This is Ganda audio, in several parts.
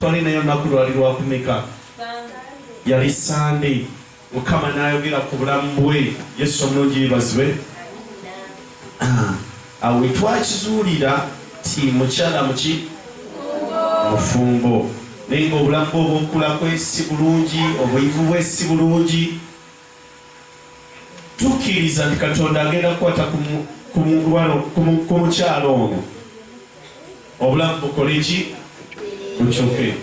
Twali naye olunaku lwali lwakumeka? Yali Sande. Mukama n'ayogera ku bulamu bwe. Yesu omulungi yebazibwe. Ah, awo wetwakizuulira ti mukyala muki mufumbo naye nga obulamu bwe obwokulakwe si bulungi obuyivu bwe si bulungi tukkiriza nti katonda agenda kukwata ku mukyalo ono obulamu bukole ki bukyuke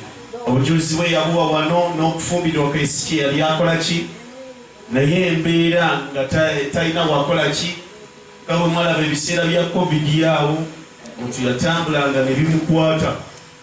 obujulizi bwe yabuwa wano n'okufumbirwa kwesiki yali akola ki naye embeera nga talina wakola ki nga bwe mwalaba ebiseera bya covid awo omuntu yatambulanga ne bimukwata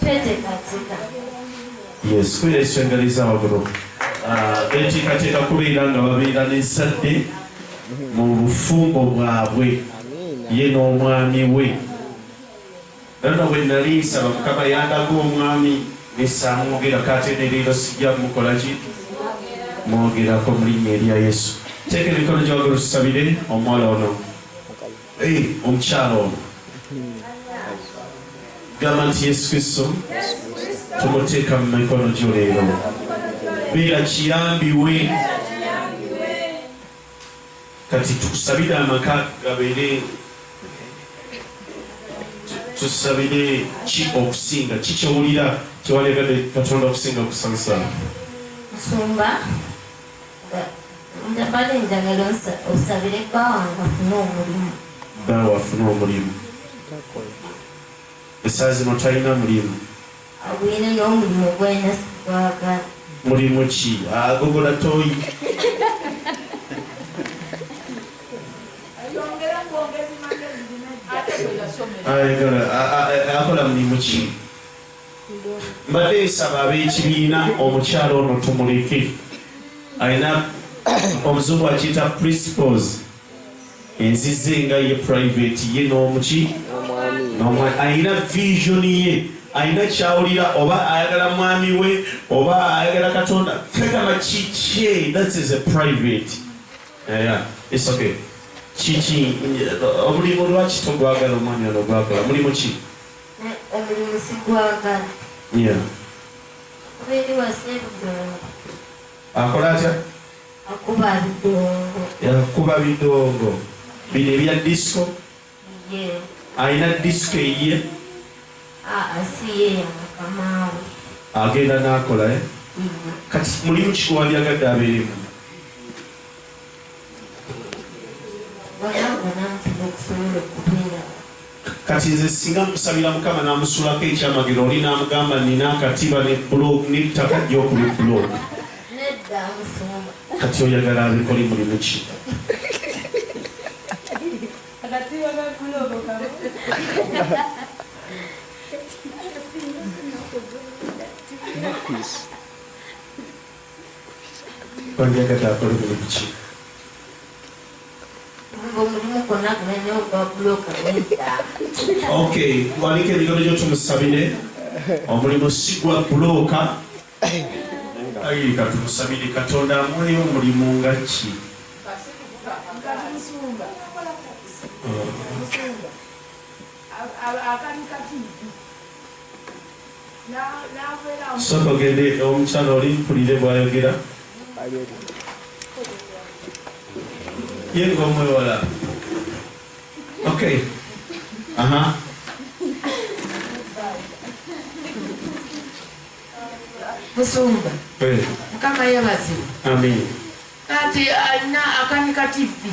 Twetekateeka. Yes, tweyesengaliza waggulu. Ah, beteekateeka kubeera nga babeera n'ezzadde mu bufumbo bwabwe ye n'omwami we nana bwe nali nsaba mukama yandaga omwami nesamwogera kate nereero sijja mukola ki mwogerako mu linnya erya yesu teeka emikono gyawagala tusabire omwala ono Hey, omukyala ono gamba nti yesu kristo tumuteeka mu mikono gyo leero beera kiyambi we kati tukusabire amaka gabeere tusabire ki okusinga kikyowulira kyewalagade katonda okusinga okusabisa nsumba Nze mbadde njagala osabire bba wange afune omulimu. Bba wo afune omulimu? Esaawa zino talina mulimu? Agwire n'omulimu gwalina sigwagala. Mulimu ki? Agogola tooyi? Ayagala akola mulimu ki? mbadde nsaba ab'ekibiina omukyala ono tumuleke alina omuzungu akiyita principles enzize nga ye private ye n'omuki alina vision ye alina kyawulira oba ayagala mwami we oba ayagala katonda kagamba kikye that is a private yeah, it's okay kiki omulimu lwaki togwagala omwami ono gwagala mulimu ki Omulimusi gwagala. Yeah. Okuba eri wasa ebidongo. Akola atya? Akuba bidongo. Yakuba bidongo. Bino ebya disco? Yeah. Alina disco eyiye? Ah, ah, si ye yakamaawe. Agenda n'akola eh? Mm-hmm. Kati mulimu kikuwandyagadde abeeremu. kati nze singa musabira mukama namusulako ekyamagero oli namugamba nina akatiba ne blog nettaka gyokuli blog kati oyagala abikole mulimu ki Wandiyagadde akole mulimu ki? Omulimu gwonna gumenye ogwa bbulooka nedda. Okay, waliko ebigambo gyo tumusabire omulimu si gwa bbulooka. Ayi katumusabire Katonda amuweeyo omulimu nga ki? Akanika TV. Soka ogende omukyala oli mpulire bwayogera ye ng'omwewala okay aha musumba eh. mukama yebazibwa kati alina akanika tivi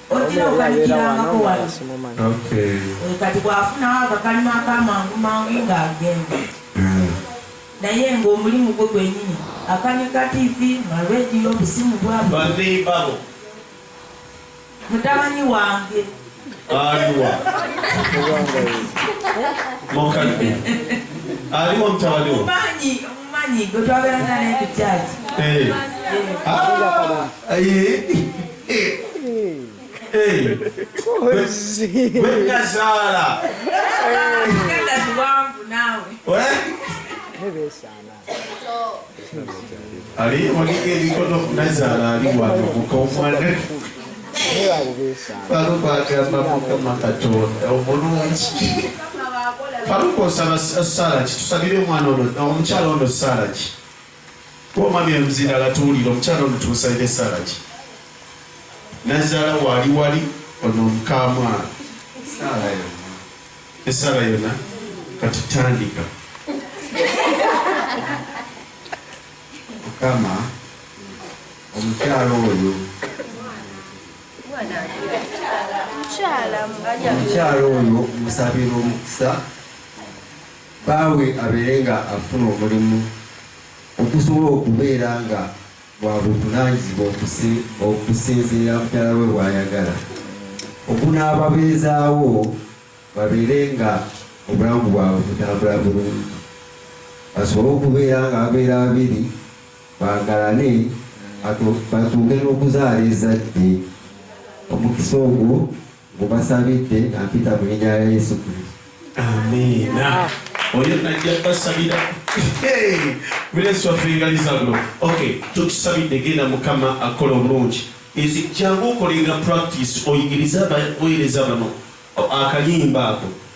Ojira okanikirangako wano. Eh, kati bwafunawo akakalima akamangu mangu ng'agenda eh. naye ng'omulimu gwe gwenyini akanika tivi marediyo obusimu bwabo mutabani wange aliwa mukadde aliwa mutabani omumanyi omumanyi gwe twabeeranga naye ku kyaki eh. gwenazaala ali onika ebikono nazaala ali wano mukomwana baluka agamba mukama katonda omulungi baluka osaba sala ki tusabire omwana ono omukyala ono sala ki Kuba omwami eruzinda latuwulira omukyala ono tumusalira esaala ki nazaala waali wali ono omukamwana esaala yona kati tandika mukama omukyala oyo omukyala oyo musabira omukisa Bbaawe abeere nga afuna omulimu ogusobola okubeera nga gwa buvunaanyizibwa okusinziira mukyala we bw'ayagala, ogunaababeezaawo babeere nga obulamu bwabwe butambula bulungi, basobole okubeera nga babeera babiri, baagalane, batuuke n'okuzaala ezzadde. Omukisa ogwo. Mbubasabidde nga mpita mu linnya lya Yesu Kristo. Amiina. Oyo najja basabira. Mulenzi waffe ngaliza bulo. Okay, tukusabidde genda Mukama akola obulungi. Ezi jangu okolenga practice oyigirize abaweereza bano akayimba ako.